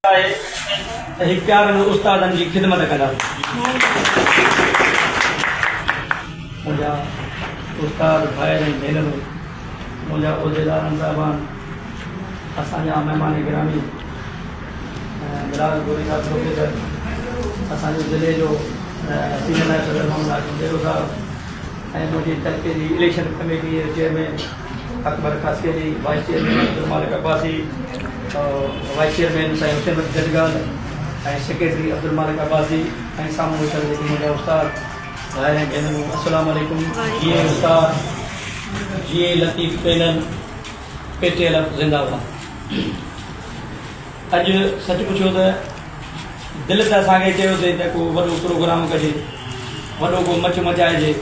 آهي ته هي پيارن استادن جي خدمت ڪندا. منهنجا استاد ڀائر ۽ ڀينرون، منهنجا عهديدار ۽ صاحبان، اسان جا مهمان گرامي ۽ بلاول گوري صاحب پروفيسر، اسان جي ضلعي جو سينيئر نائب صدر محمد هاشم ڏيرو صاحب ۽ منهنجي تعلقي جي اليڪشن ڪميٽي جو chairman, Akbar Khaskheli, vice chairman Abdul Malik Abbasi, vice chairman سائين حسين بخش جنگال ۽ سيڪريٽري عبدالمالڪ عباسي ۽ سامهون ويٺل جيڪي منهنجا استاد ڀائر ۽ ڀينرون السلام عليڪم جيئي استاد جيئي Latif panel P T L F زنده باد. اڄ سچ پڇو ته دل ته اسان کي چيو ٿي ته ڪو وڏو پروگرام ڪجي، وڏو ڪو مچ مچائجي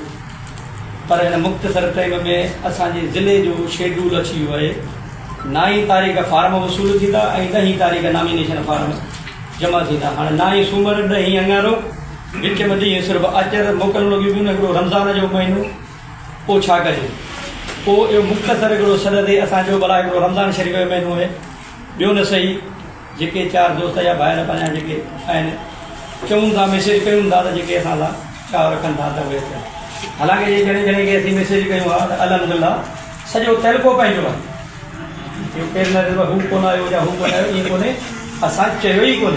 پر هن مختصر ٽيم ۾ اسان جي ضلعي جو شيڊول اڇي ويو آهي، نه ئي تاريخ فارم وصول ٿيندا ۽ نه ئي تاريخ نامينيشن فارم جمع ٿيندا، هاڻ نه ئي سومر نه ئي اڱارو، وچ ۾ ڏينهن صرف اچر موڪلون لڳيون پيون نه هڪڙو رمضان جو مهينو پوء ڇا ڪجي؟ پوء اهو مختصر هڪڙو سڏ ٿي اسان چئو ڀلا هڪڙو رمضان شريف جو مهينو آهي. ٻيو نه سهي جيڪي چار دوست يا ڀائر پنهنجا جيڪي آهن چئون ٿا ميسيج ڪيون ٿا ته جيڪي اسان سان چاهه رکن ٿا ته اهي اچن حالانڪه جي جڻي جڻي کي اسين ميسيج ڪيون ها ته الحمدلله سڄو تعلقو پنهنجو آهي اهو ڪير نه رهيو هو ڪونه آيو يا هو ڪونه آيو ائين ڪونهي اسان چيو ئي ڪونهي.